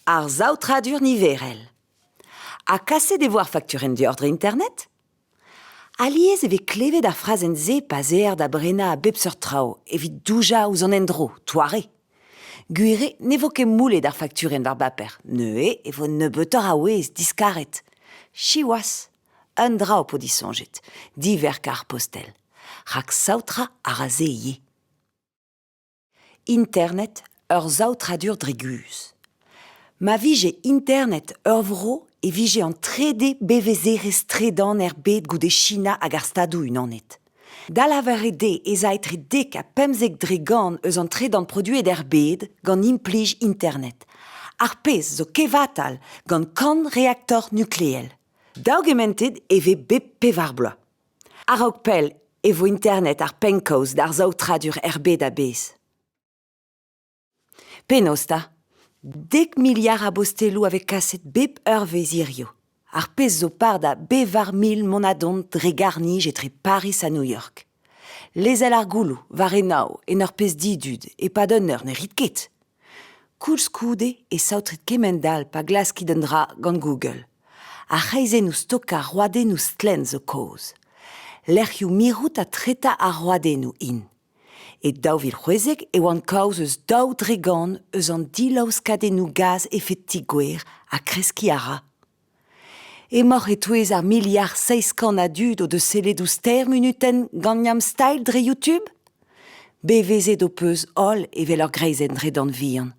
Ar saotradur niverel. Ha kaset e vo ar fakturenn dioc'h dre internet? Alies e vez klevet ar frazenn-se pa zer da brenañ a bep seurt traoù evit doujañ ouzh an endro, toare. Gwir eo ne vo ket moulet ar fakturenn war baper, neuze e vo nebeutoc'h a wezh diskaret. Siwazh! Un dra ho po disoñjet, diverk ar postel, rak saotrañ a ra se ivez. Internet ur saotradur dre guzh. Ma vije Internet ur vro e vije an trede bevezerezh-tredan er bed goude China hag ar Stadoù-Unanet. Da lavaret eo ez a etre dek ha pemzek dregant eus an tredan produet er bed gant implij Internet, ar pezh zo kevatal gant kant reaktor nukleel. Daougementet e vez bep pevar bloaz. A-raok pell e vo internet ar pennkaoz d'ar saotradur er bed a-bezh. Penaos 'ta? Dek miliard a bosteloù a vez kaset bep eurvezh hiziv, ar pezh zo par da bevar mil monadon dre garr-nij etre Pariz ha New York. Lezel ar gouloù war enaou en ur pezh didud e-pad un eur ne rit ket. Koulskoude e saotrit kement-all pa glaskit un dra gant Google. Ar c'hreizennoù stokañ roadennoù stlenn zo kaoz. Lec'hioù mirout ha tretañ ar roadennoù int. E daou vil c'hwezek e oan kaoz eus daou dregont eus an dilaoskadennoù gaz efed ti-gwer ha kreskiñ a ra. Emaoc'h e-touez ar miliard seizh kant a dud o deus sellet ouzh Ster munutenn gant Yamstyle dre YouTube ? Bevezet ho peus holl evel ur greizenn dredan vihan.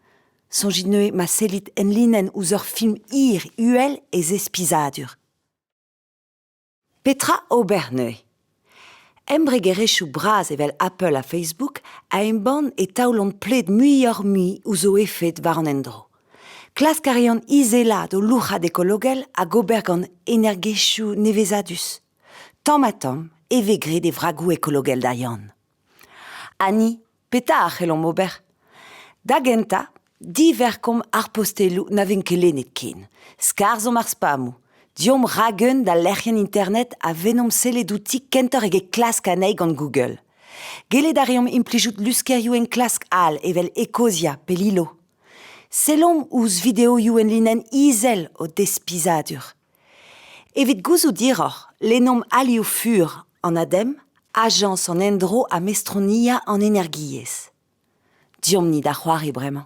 Soñjit neuze ma sellit enlinenn ouzh ur film hir uhel e zespizadur. Petra ober neuze? Embregerezhioù bras evel Apple ha Facebook a embann e taolont pled muioc'h-mui ouzh o efed war an endro. Klask a reont izelaat o louc'had ekologel hag ober gant energiezhioù nevezadus. Tamm-ha-tamm e vez graet e vragoù ekologel da Yann. Ha ni, petra a c'hellomp ober ? Da gentañ, diverkomp ar posteloù na vent ket lennet ken, skarzhomp ar spammoù, deomp ragheun d'al lec'hienn internet ha vennomp sellet outi kentoc'h eget klask anezhi gant Google. Gellet a reomp implijout luskerioù enklask all evel Ecosia pe Lilo. Sellomp ouzh videoioù enlinenn izel o despizadur. Evit gouzout hiroc'h, lennomp alioù fur an ADEM, Ajañs an Endro ha Mestroniañ an Energiezh. Deomp-ni da c'hoari bremañ.